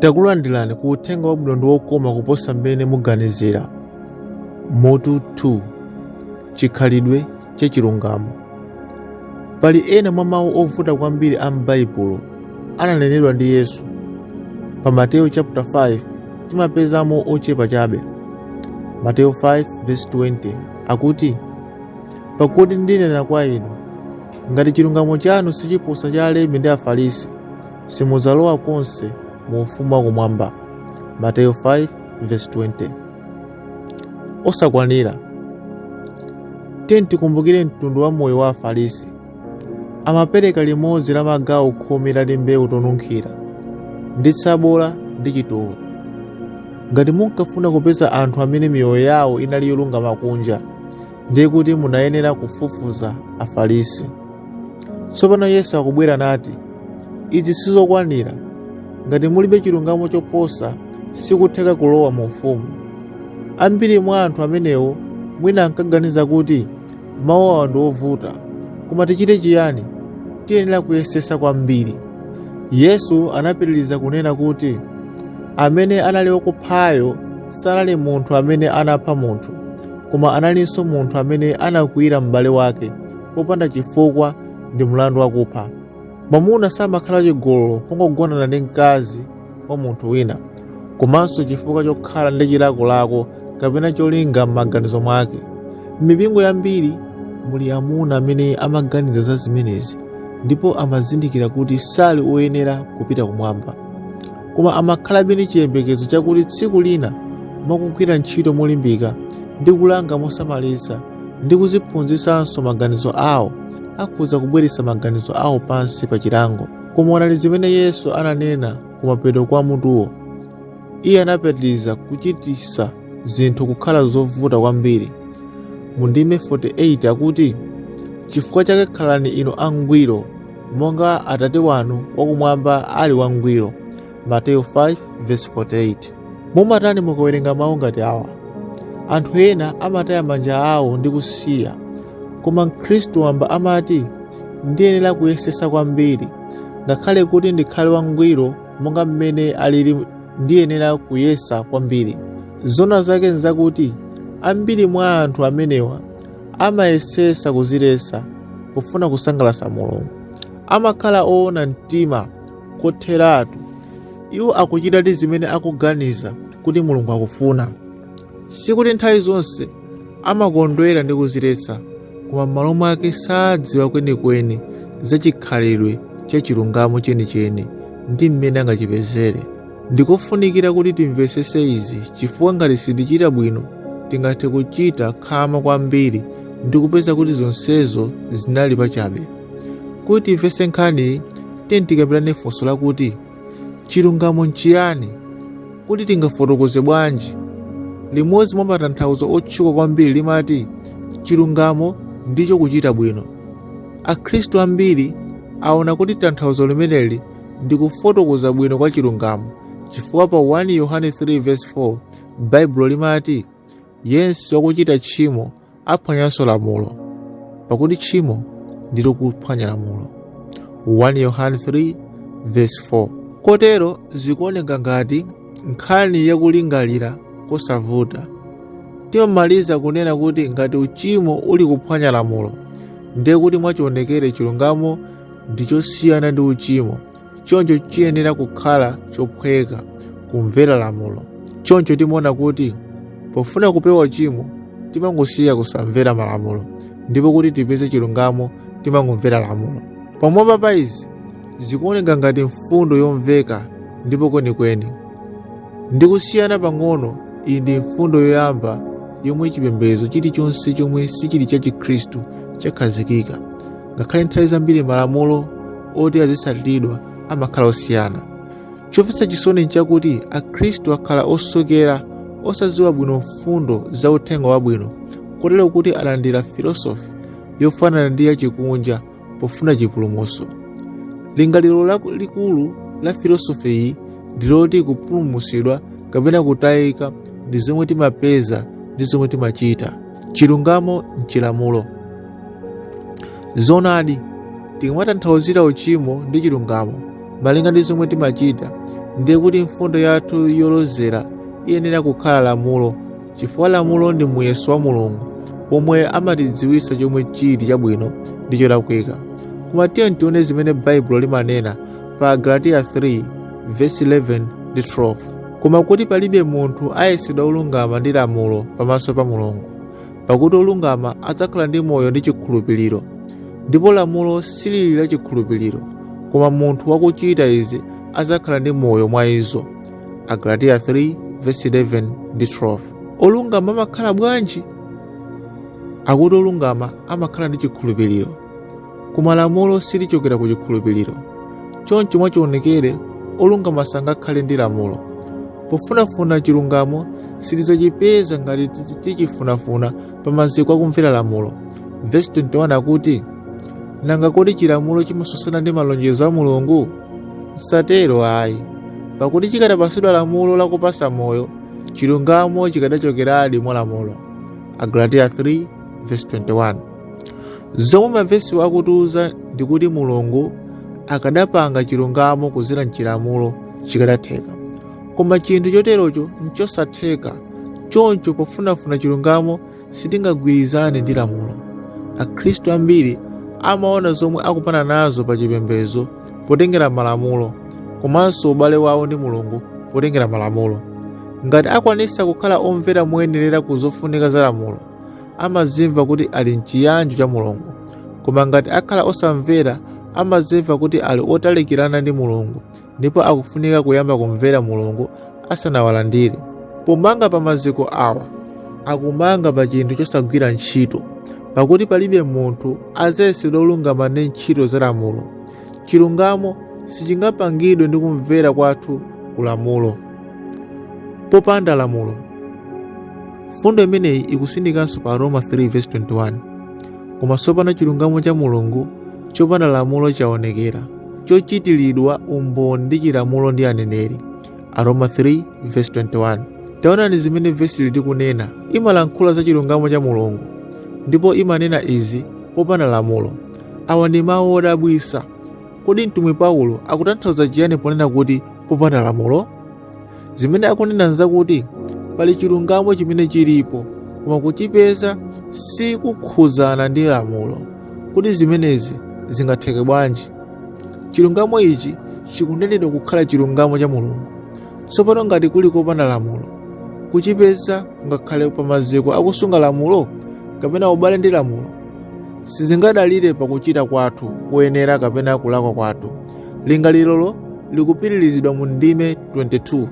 takulandirani ku uthenga wabwino ndi wokoma kuposa mmene muganizira mutu 2 chikhalidwe chachilungamo pali ena mwa mawu ovuta kwambiri a m'baibulo ananenedwa ndi Yesu. Pa Mateyu chapter 5 timapezamo ochepa chabe. Mateyu 5 verse 20 akuti, pakuti ndinena kwa inu, ngati chilungamo chanu sichiposa cha alembi ndi afarisi, simudzalowa konse mu ufumu wa kumwamba. Mateyu 5 verse 20. Osakwanira. Tiyeni tikumbukire mtundu wa moyo wa Afarisi Amapereka limodzi la magawo khumi la timbewu tonunkhira, ndi tsabola ndi chitowe. Ngati munkafuna kupeza anthu amene miyoyo yawo inali yolungama kunja, ndiye kuti munayenera kufufuza Afarisi. Tsopano Yesu akubwera nati, Izi sizokwanira. Ngati mulibe chilungamo choposa, sikutheka kulowa mu ufumu. Ambiri mwa anthu amenewo mwina ankaganiza kuti Mawu awa ndi ovuta, koma tichite chiyani? Tiyenera kuyesetsa kwambiri. Yesu anapitiriza kunena kuti, Amene anali wakuphayo sanali munthu amene anapha munthu, koma analinso munthu amene anakwiyira m'bale wake popanda chifukwa ndi mlandu wakupha. Mwamuna samakhala wachigololo pongogonana ndi mkazi wa munthu wina komanso chifukwa chokhala ndi chilakolako kapena cholinga m'maganizo mwake m'mipingo yambiri muli amuna amene amaganiza za zimenezi ndipo amazindikira kuti sali oyenera kupita kumwamba koma amakhalabe ndi chiyembekezo chakuti tsiku lina mwakugwira ntchito molimbika ndi kulanga mosamalitsa ndi kuziphunzitsanso maganizo awo akhoza kubweretsa maganizo awo pansi pa chilango koma onani zimene yesu ananena kumapeto kwa mutuwo iye anapitiriza kuchititsa zinthu kukhala zovuta kwambiri mu ndime 48 akuti chifukwa chake khalani inu angwiro monga atate wanu wakumwamba ali wangwiro Mateyu 5:48 Mumatani mukawerenga mawu ngati awa? Anthu ena amataya manja awo ndi kusiya, koma Mkhristu wamba amati, Ndiyenera kuyesetsa kwambiri. Ngakhale kuti ndikhale wangwiro monga mmene alili, ndiyenera kuyesa kwambiri. Zoona zake n'zakuti ambiri mwa anthu amenewa amayesetsa kudziletsa pofuna kusangalatsa Mulungu. Amakhala oona mtima kotheratu. Iwo akuchitadi zimene akuganiza kuti Mulungu akufuna. Sikuti nthawi zonse amakondwera ndi kuziletsa, koma m'malo mwake sadziwa kwenikweni za chikhalidwe cha chilungamo chenicheni ndi mmene angachipezere. Ndikofunikira kuti timvetsetse izi chifukwa ngati sitichita bwino tingathe kuchita khama kwambiri ndi kupeza kuti zonsezo zinali pachabe. Kuti timvetse nkhaniyi tiyeni tikambirane funso lakuti chilungamo nchiyani kuti tingafotokoze bwanji limodzi mwa matanthauzo otchuka kwambiri limati chilungamo ndicho kuchita bwino akhristu ambiri aona kuti tanthauzo limeneli ndi kufotokoza bwino kwa chilungamo chifukwa pa 1 yohane 3:4 baibulo limati yense wakuchita tchimo aphwanyanso lamulo pakuti tchimo ndilo kuphwanya lamulo 1 yohane 3 verse 4 kotero zikuoneka ngati nkhani yakulingalira kosavuta timamaliza kunena kuti ngati uchimo uli kuphwanya lamulo ndiye kuti mwachionekere chilungamo ndi chosiyana ndi uchimo choncho chiyenera kukhala chophweka kumvera lamulo choncho timaona kuti pofuna kupewa uchimo timangosiya kusamvera malamulo ndipo kuti tipeze chilungamo timangomvera lamulo pamwamba pa izi zikuoneka ngati mfundo yomveka ndipo kwenikweni ndi kusiyana pang'ono iyi ndi mfundo yoyamba yomwe chipembedzo chilichonse chomwe sichiri cha chikhristu chakhazikika ngakhale nthawi zambiri malamulo oti azitsatiridwa amakhala osiyana chomvetsa chisoni nchakuti akhristu akhala osokera osadziwa bwino mfundo za uthenga wabwino kotero kuti alandira filosofi yofanana ndi yachikunja pofuna chipulumutso lingaliro laku- likulu la filosofi iyi ndi loti kupulumutsidwa kapena kutayika ndi zomwe timapeza ndi zomwe timachita chilungamo nchilamulo Zoonadi, tikamatanthauzira uchimo ndi chilungamo malinga ndi zomwe timachita, ndiye kuti mfundo yathu yolozera iyenera kukhala lamulo, chifukwa lamulo ndi muyeso wa Mulungu womwe amatidziwitsa chomwe chili chabwino ndi cholakwika. Koma tiyeni tione zimene Baibulo limanena pa Agalatiya 3 vesi 11 ndi 12. Koma kuti palibe munthu ayesedwa wolungama ndi lamulo pamaso pa Mulungu, pakuti olungama adzakhala ndi moyo ndi chikhulupiriro ndipo lamulo silili la chikhulupiriro koma munthu wakuchita izi adzakhala ndi moyo mwa izo agalatiya 3 verse 11 ndi 12 olungama amakhala bwanji akuti olungama amakhala ndi chikhulupiriro Koma lamulo silichokera ku chikhulupiriro. Choncho mwachionekere, olungama sangakhale ndi lamulo. Pofunafuna chilungamo, sitidzachipeza ngati tizi- tichifunafuna pa maziko akumvera lamulo. Vesi 21 akuti, Nanga kodi chilamulo chimatsutsana ndi malonjezo a Mulungu? Msatero ayi, pakuti chikadapatsidwa lamulo lakupatsa moyo, chilungamo chikadachokeradi mwa lamulo. Agalatiya 3 vesi 21 zomwe mavesiwa akutiuza ndi kuti mulungu akadapanga chilungamo kudzera mchilamulo chikadatheka koma chinthu choterocho nchosatheka choncho pofunafuna chilungamo sitingagwirizane ndi lamulo akhristu ambiri amaona zomwe akupana nazo pa chipembedzo potengera malamulo komanso ubale wawo ndi mulungu potengera malamulo ngati akwanitsa kukhala omvera moyenerera ku zofunika za lamulo amazimva kuti ali mchiyanjo cha mulungu koma ngati akhala osamvera amazimva kuti ali otalikirana ndi mulungu ndipo akufunika kuyamba kumvera mulungu asanawalandire. Pomanga pa maziko awa, akumanga pa chinthu chosagwira ntchito, pakuti palibe munthu adzayesedwa wolungama ndi ntchito za lamulo. Chilungamo sichingapangidwe ndi kumvera kwathu ku lamulo. Popanda lamulo, mfundo imeneyi ikusindikanso pa Roma 3:21. Koma tsopano chilungamo cha Mulungu chopanda lamulo chaonekera, chochitiridwa umboni ndi chilamulo ndi aneneri. aroma 3 verse 21 taonani zimene vesili likunena imalankhula za chilungamo cha mulungu ndipo imanena izi popanda lamulo awa ndi mawu odabwitsa kodi mtumwi paulo akutanthauza chiyani ponena kuti popanda lamulo zimene akunena nzakuti pali chilungamo chimene chilipo koma kuchipeza sikukhudzana ndi lamulo kodi zimenezi zingatheke bwanji Chilungamo ichi chikunenedwa kukhala chilungamo cha Mulungu. Tsopano ngati kuli kopanda lamulo, kuchipeza kungakhale pa maziko akusunga lamulo kapena ubale ndi lamulo. Sizingadalire pa kuchita kwathu koyenera kapena kulakwa kwathu. Lingalirolo likupitirizidwa mu ndime 22.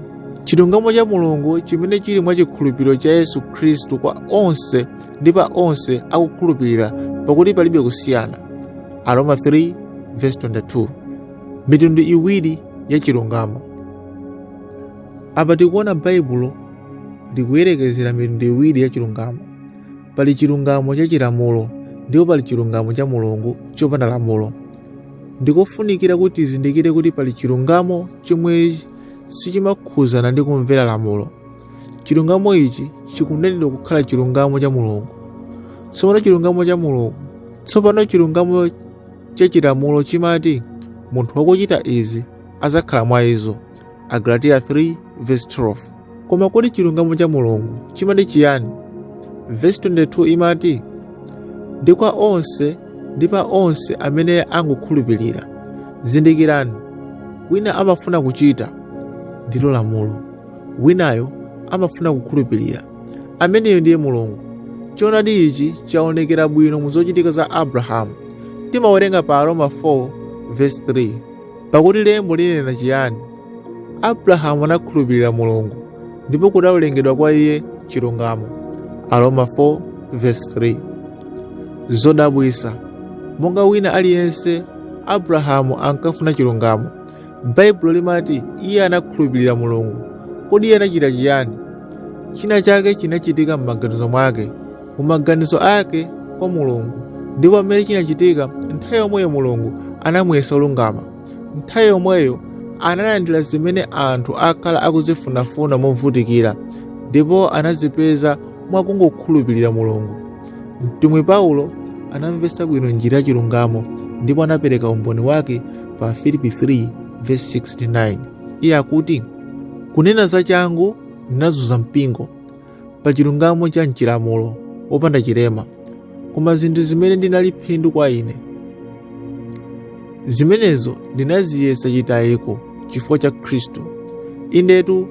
Chilungamo cha Mulungu chimene chili mwa chikhulupiriro cha Yesu Khristu kwa onse ndi pa onse akukhulupirira pakuti palibe kusiyana aroma 3 verse 22 mitundu iwiri ya chilungamo apa tikuona baibulo likuyerekezera mitundu iwiri ya chilungamo pali chilungamo cha chilamulo ndipo pali chilungamo cha mulungu chopanda lamulo ndikofunikira kuti tizindikire kuti pali chilungamo chomwe sichimakhudzana ndi kumvera lamulo Chilungamo ichi chikunenedwa kukhala chilungamo cha Mulungu. Tsopano chilungamo cha Mulungu. Tsopano chilungamo cha chilamulo chimati munthu wakuchita izi adzakhala mwa izo. Agalatiya 3 verse 12. Koma kodi chilungamo cha Mulungu chimati chiyani? Verse 22 imati ndi kwa onse ndi pa onse amene angokhulupirira. Zindikirani, wina amafuna kuchita ndilo lamulo. winayo amafuna kukhulupirira. Ameneyo ndiye Mulungu. Choonadi ichi chaonekera bwino mu zochitika za Abrahamu. Timawerenga pa Aroma 4 verse 3 pakuti lembo linena chiyani? Abrahamu anakhulupirira Mulungu ndipo kudawerengedwa kwa iye chilungamo. Aroma 4 verse 3 zodabwitsa monga wina aliyense abrahamu ankafuna chilungamo Baibulo limati iye anakhulupirira Mulungu. Kodi iye anachita chiyani? China chake chinachitika m'maganizo mwake, mu maganizo ake kwa Mulungu, ndipo pamene chinachitika, nthawi yomweyo Mulungu anamuyesa olungama. Nthawi yomweyo analandira zimene anthu akhala akuzifunafuna movutikira, ndipo anazipeza mwakungokhulupirira Mulungu. Mtumwi Paulo anamvetsa bwino njira ya chilungamo ndipo anapereka umboni wake pa Afilipi 3 verse 6, 9. Iye akuti, kunena za changu ndinazunza mpingo pa chilungamo cha mchilamulo wopanda chilema, koma zinthu zimene zinali phindu kwa ine zimenezo ndinaziyesa chitayiko chifukwa cha Khristu. Indetu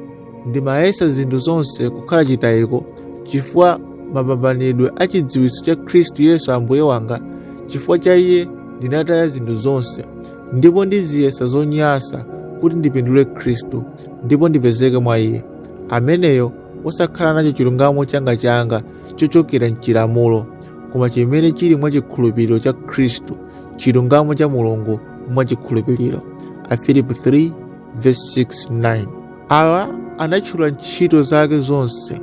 ndimayesa zinthu zonse kukhala chitayiko chifukwa mapambanidwe a chidziwitso cha khristu yesu ambuye wanga chifukwa cha iye ndinataya zinthu zonse ndipo ndiziyesa zonyansa kuti ndipindule khristu ndipo ndipezeke mwa iye ameneyo osakhala nacho chilungamo changa changa chochokera mchilamulo koma chimene chili mwa chikhulupiriro cha khristu chilungamo cha mulungu mwa chikhulupiriro afilipi 3 Verse 6, 9. Awa anatchula ntchito zake zonse,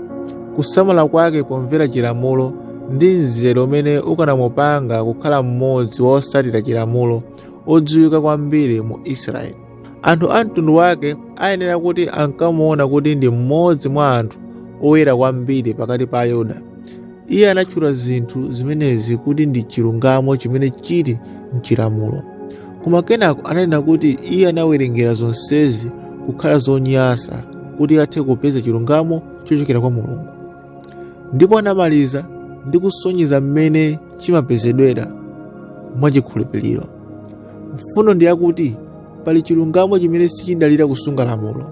kusamala kwake pomvera chilamulo ndi mzere umene ukanamupanga kukhala mmodzi wa otsatira chilamulo odziwika kwambiri mu Israeli. Anthu a mtundu wake ayenera kuti ankamuona kuti ndi mmodzi mwa anthu oyera kwambiri pakati pa Ayuda. Iye anatchula zinthu zimenezi kuti ndi chilungamo chimene chili m'chilamulo. Koma kenako ananena kuti iye anawerengera zonsezi kukhala zonyansa kuti athe kupeza chilungamo chochokera kwa Mulungu. Ndipo anamaliza ndi kusonyeza mmene chimapezedwera mwa chikhulupiriro. Mfundo ndi yakuti pali chilungamo chimene sichidalira kusunga lamulo,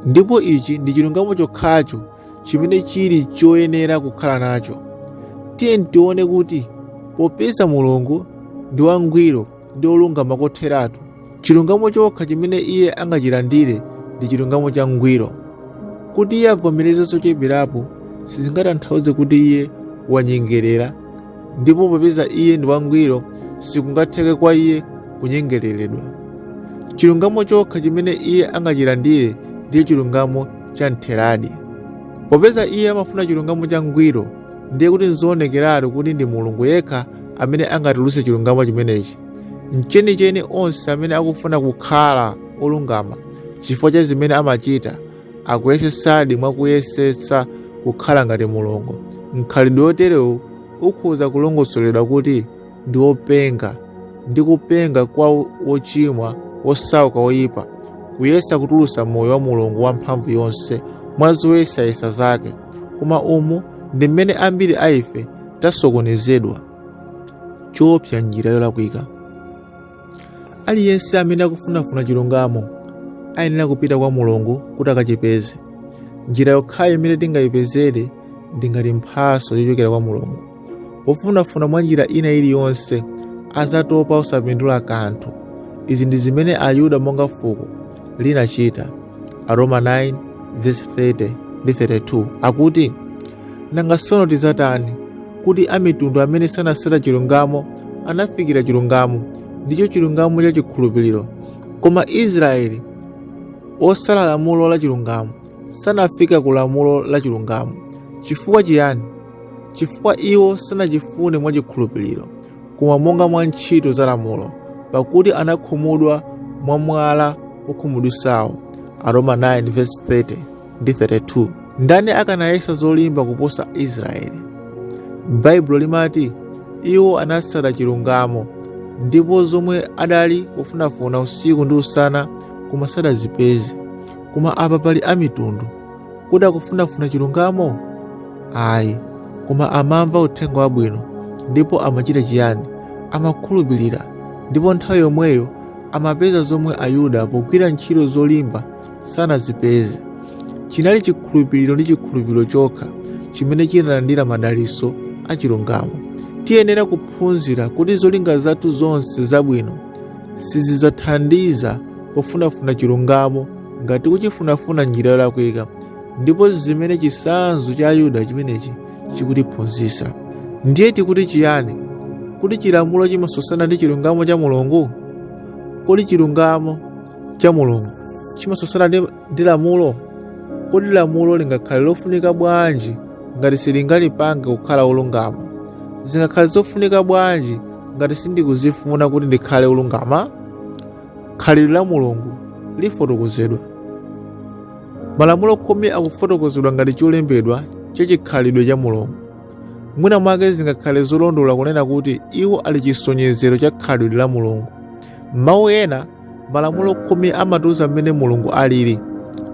ndipo ichi ndi chilungamo chokhacho chimene chili choyenera kukhala nacho. Tiyeni tione kuti popeza Mulungu ndi wangwiro ndi wolungama kotheratu, chilungamo chokha chimene iye angachilandire ndi chilungamo changwiro. Kuti iye avomereze zocheperapo sizingatanthauze kuti iye wanyengerera, ndipo popeza iye ndi wangwiro sikungatheke kwa iye kunyengereredwa. Chilungamo chokha chimene iye angachilandire ndiye chilungamo cha mtheradi. Popeza iye amafuna chilungamo changwiro, ndiye kuti nzoonekeratu kuti ndi Mulungu yekha amene angatulutse chilungamo chimenechi. Mchenicheni onse amene akufuna kukhala olungama chifukwa cha zimene amachita akuyesetsadi mwa kuyesetsa kukhala ngati Mulungu. Mkhalidwe woterewu ukhoza kulongosoledwa kuti ndi wopenga ndi kupenga kwa wochimwa wosauka woyipa kuyesa kutulutsa moyo wa mulungu wamphamvu yonse mwa zoyesayesa zake koma umu ndi mmene ambiri a ife tasokonezedwa choopsa njira yolakwika aliyense amene akufunafuna chilungamo ayenera kupita kwa mulungu kuti akachipeze njira yokhayo imene tingayipezere ndi ngati mphatso yochokera kwa mulungu wofunafuna mwa njira ina iliyonse adzatopa osapindula kanthu izi ndi zimene ayuda monga fuko linachita. Aroma 9 verse 30 ndi 32 akuti, Nanga tsono tidzatani? Kuti amitundu amene sanasata chilungamo anafikira chilungamo, ndicho chilungamo cha chikhulupiriro. Koma Israeli wosata lamulo la chilungamo sanafika ku lamulo la chilungamo. Chifukwa chiyani? Chifukwa iwo sanachifune mwa chikhulupiriro. koma monga mwa ntchito za lamulo pakuti anakhumudwa mwa mwala wokhumudwitsawo aroma 9:30 ndi 32 ndani akanayesa zolimba kuposa israeli baibulo limati iwo anatsata chilungamo ndipo zomwe adali kufunafuna usiku ndi usana koma sadazipeze koma apa pali amitundu Kodi akufunafuna chilungamo? Ayi, koma amamva uthenga wabwino ndipo amachita chiyani? Amakhulupirira ndipo nthawi yomweyo amapeza zomwe Ayuda pogwira ntchito zolimba sanazipeze. Chinali chikhulupiriro ndi chikhulupiriro chokha chimene chinalandira madalitso a chilungamo. Tiyenera kuphunzira kuti zolinga zathu zonse zabwino sizidzathandiza pofunafuna chilungamo ngati kuchifunafuna njira yolakwika ndipo zimene chitsanzo cha ayuda chimenechi chikutiphunzitsa ndiye tikuti chiyani kuti chilamulo chimatsutsana ndi chilungamo cha mulungu kodi chilungamo cha mulungu chimatsutsana ndi lamulo kodi lamulo lingakhale lofunika bwanji ngati silingandipange kukhala olungama zingakhale zofunika bwanji ngati sindikuzifuna kuti ndikhale olungama khalidwe la mulungu lifotokozedwa malamulo khumi akufotokozedwa ngati cholembedwa cha chikhalidwe cha mulungu mwina mwake zingakhale zolondola kunena kuti iwo ali chisonyezero cha khalidwe la mulungu m'mawu ena malamulo khumi amatiuza mmene mulungu alili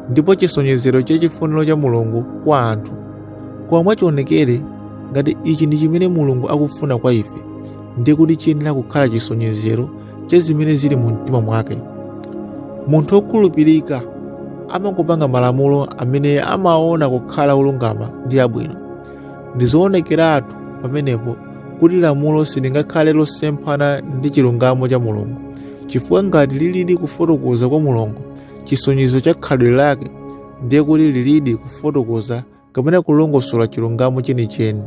ndipo chisonyezero cha chifuniro cha mulungu kwa anthu koma mwachionekere ngati ichi ndi chimene mulungu akufuna kwa ife ndiye kuti chiyenera kukhala chisonyezero cha zimene zili mu mtima mwake munthu wokhulupirika amangopanga malamulo amene amaona kukhala olungama ndi abwino ndi zoonekeratu pamenepo kuti lamulo silingakhale losemphana ndi chilungamo cha mulungu chifukwa ngati lilidi kufotokoza kwa mulungu chisonyezo cha khalidwe lake ndiye kuti lilidi kufotokoza kapena kulongosola chilungamo chenicheni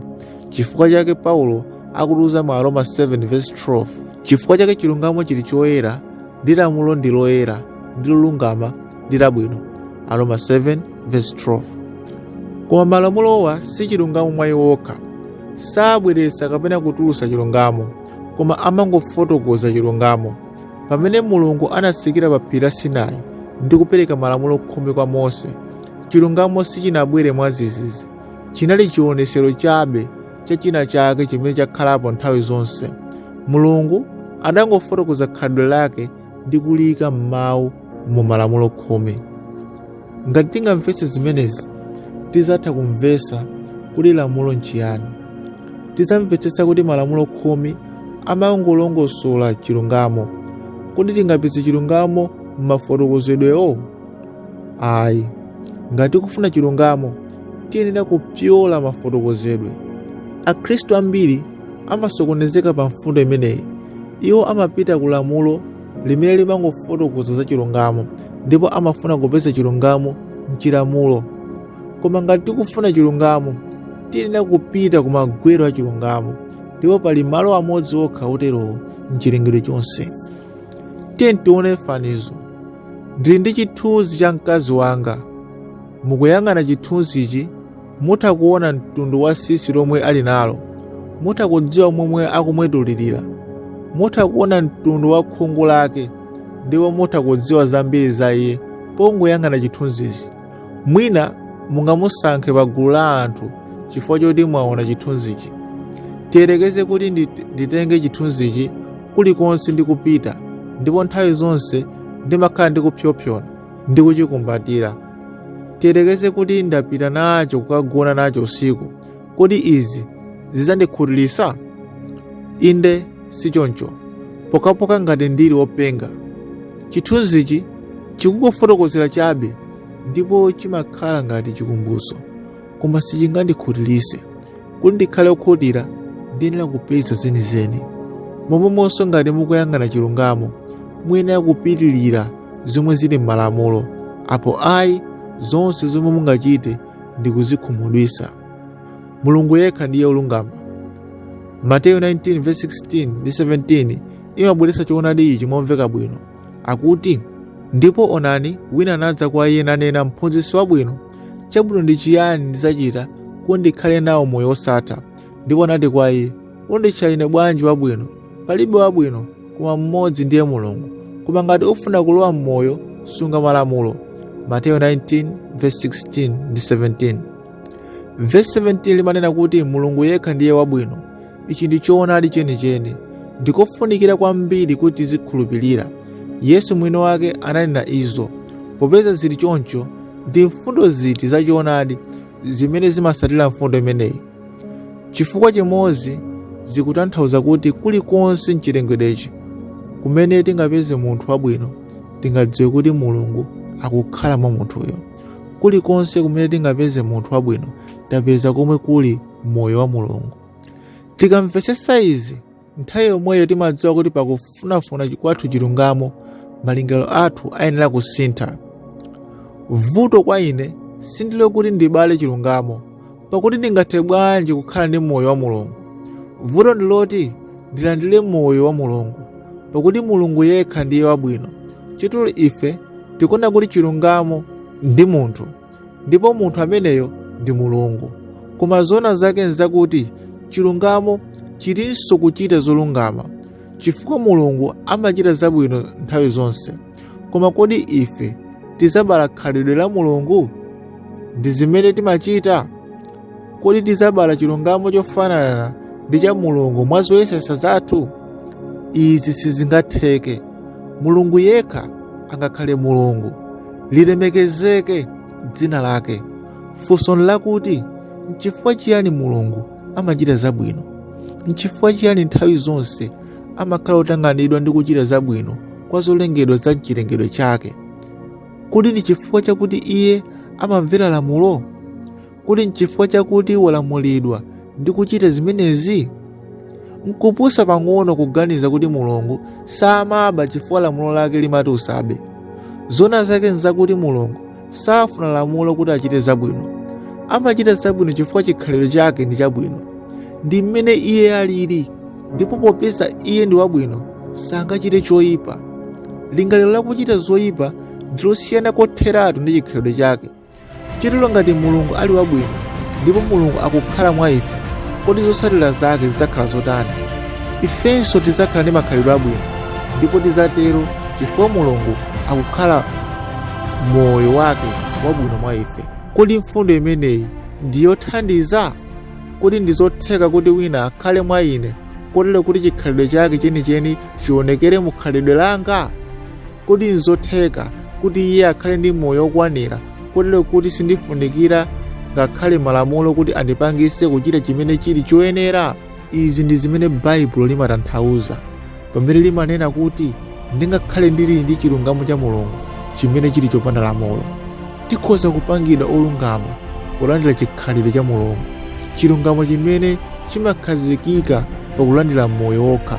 chifukwa chake paulo akutiuza mu aroma 7 verse 12 chifukwa chake chilungamo chili choyera ndi lamulo ndi loyera ndi lolungama ndi labwino aroma 7 verse 12 koma malamulowa si chilungamo mwa iwo okha sabweretsa kapena kutulutsa chilungamo koma amangofotokoza chilungamo pamene mulungu anatsikira pa phiri la sinai ndi kupereka malamulo khumi kwa mose chilungamo sichinabwere mwadzidzidzi chinali chionetsero chabe cha china chake chimene chakhalapo nthawi zonse mulungu adangofotokoza khalidwe lake ndi kuliyika m'mawu mu malamulo khumi ngati tingamvetse zimenezi tizatha kumvetsa kuti lamulo nchiyani tizamvetsetsa kuti malamulo khumi amangolongosola chilungamo kodi tingapeze chilungamo m'mafotokozedwewo ayi ngati tikufuna chilungamo tiyenera kupyola mafotokozedwe akhristu ambiri amasokonezeka pa mfundo imeneyi iwo amapita ku lamulo limene limangofotokoza za chilungamo ndipo amafuna kupeza chilungamo mchilamulo koma ngati tikufuna chilungamo tiyenera kupita ku magwero a chilungamo ndipo pali malo amodzi okha oterowo mchilengedwe chonse tiye tione fanizo Ndili ndi chithunzi cha mkazi wanga. Mukuyang'ana chithunzichi, mutha kuona mtundu wa sisi lomwe ali nalo. Mutha kudziwa momwe akumwetulirira. Mutha kuona mtundu wa khungu lake ndipo mutha kudziwa zambiri za iye pongoyang'ana chithunzichi. Mwina mungamusankhe pa gulu la anthu chifukwa choti mwaona chithunzichi. Tiyerekeze kuti ndit- nditenge chithunzichi kulikonse ndikupita ndipo nthawi zonse ndimakhala ndikupsyopsyona ndi kuchikumbatira. Tiyerekeze kuti ndapita nacho kukagona nacho usiku Kodi izi zidzandikhutiritsa? Inde, si choncho, pokhapokha ngati ndili wopenga. Chithunzichi chikungofotokozera chabe ndipo chimakhala ngati chikumbutso, koma sichingandikhutiritse. Kuti ndikhale wokhutira, ndiyenera kupeza zenizeni. Momwemonso ngati mukuyang'ana chilungamo, muyenera kupitirira zomwe zili m'malamulo, apo ayi zonse zomwe mungachite ndi kuzikhumudwisa mulungu yekha ndiye olungama mateyu 19 verse 16 ndi 17 imabweretsa choonadi ichi momveka bwino akuti ndipo onani wina anadza kwa iye nanena mphunzitsi wabwino chabwino ndi chiyani ndidzachita kuti ndikhale nawo moyo wosatha ndipo anati kwa iye Unditcha ine bwanji wabwino? Palibe wabwino koma mmodzi ndiye Mulungu. Koma ngati ufuna kulowa m'moyo, sunga malamulo. Mateyu 19 verse 16 ndi 17. Verse 17 limanena kuti Mulungu yekha ndiye wabwino. Ichi ndi choonadi chenicheni. Ndikofunikira kwambiri kuti tizikhulupirira. Yesu mwini wake ananena izo. Popeza zili choncho, ndi mfundo ziti za choonadi zimene zimatsatira mfundo imeneyi? Chifukwa chimodzi zikutanthauza kuti kulikonse mchilengedwechi kumene tingapeze munthu wabwino tingadziwe kuti mulungu akukhala mwa munthuyo kulikonse kumene tingapeze munthu wabwino tapeza komwe kuli moyo wa mulungu tikamvetsetsa izi nthawi yomweyo timadziwa kuti pakufunafuna kwathu chilungamo malingaliro athu ayenera kusintha vuto kwa ine sindilo kuti ndibale chilungamo pakuti ndingathe bwanji kukhala ndi moyo wa mulungu vuto ndiloti ndilandire moyo wa mulungu pakuti mulungu yekha ndiye wabwino chotero ife tikuona kuti chilungamo ndi munthu ndipo munthu ameneyo ndi mulungu koma zoona zake nzakuti chilungamo chilinso kuchita zolungama chifukwa mulungu amachita zabwino nthawi zonse koma kodi ife tizabala khalidwe la mulungu ndi zimene timachita kodi tizabala chilungamo chofanana ndi cha mulungu mwa zoyesesa zathu izi sizingatheke mulungu yekha angakhale mulungu lilemekezeke dzina lake funso nlakuti nchifukwa chiyani mulungu amachita zabwino nchifukwa chiyani nthawi zonse amakhala otanganidwa ndi kuchita zabwino kwa zolengedwa za mchilengedwe chake kodi ndi chifukwa chakuti iye amamvera lamulo Kodi nchifukwa chakuti walamulidwa ndi kuchita zimenezi? Nkupusa pang'ono kuganiza kuti Mulungu samaba chifukwa lamulo lake limati usabe. Zona zake nzakuti Mulungu safuna lamulo kuti achite zabwino. Amachita zabwino chifukwa chikhalidwe chake ndi chabwino. Ndi mmene iye alili, ndipo popeza iye ndi wabwino, sangachite choipa. Lingaliro lakuchita zoipa ndi losiyana kotheratu ndi chikhalidwe chake. Chotero ngati Mulungu ali wabwino ndipo Mulungu akukhala mwa ife, kodi zotsatira zake zidzakhala zotani? Ifenso tidzakhala ndi makhalidwe abwino ndipo tidzatero chifukwa Mulungu akukhala moyo wake wabwino mwa ife. Kodi mfundo imeneyi ndi yothandiza? Kodi ndi zotheka kuti wina akhale mwa ine kotero kuti chikhalidwe chake chenicheni chionekere mu khalidwe langa? Kodi nzotheka kuti iye akhale ndi moyo wokwanira kotero kuti sindifunikira ngakhale malamulo kuti andipangise kuchita chimene chili choyenera? Izi ndi zimene Baibulo limatanthauza pamene limanena kuti ndingakhale ndili ndi chilungamo cha Mulungu chimene chili chopanda lamulo. Tikhoza kupangidwa olungama polandira chikhalidwe cha Mulungu, chilungamo chimene chimakhazikika pakulandira moyo wokha.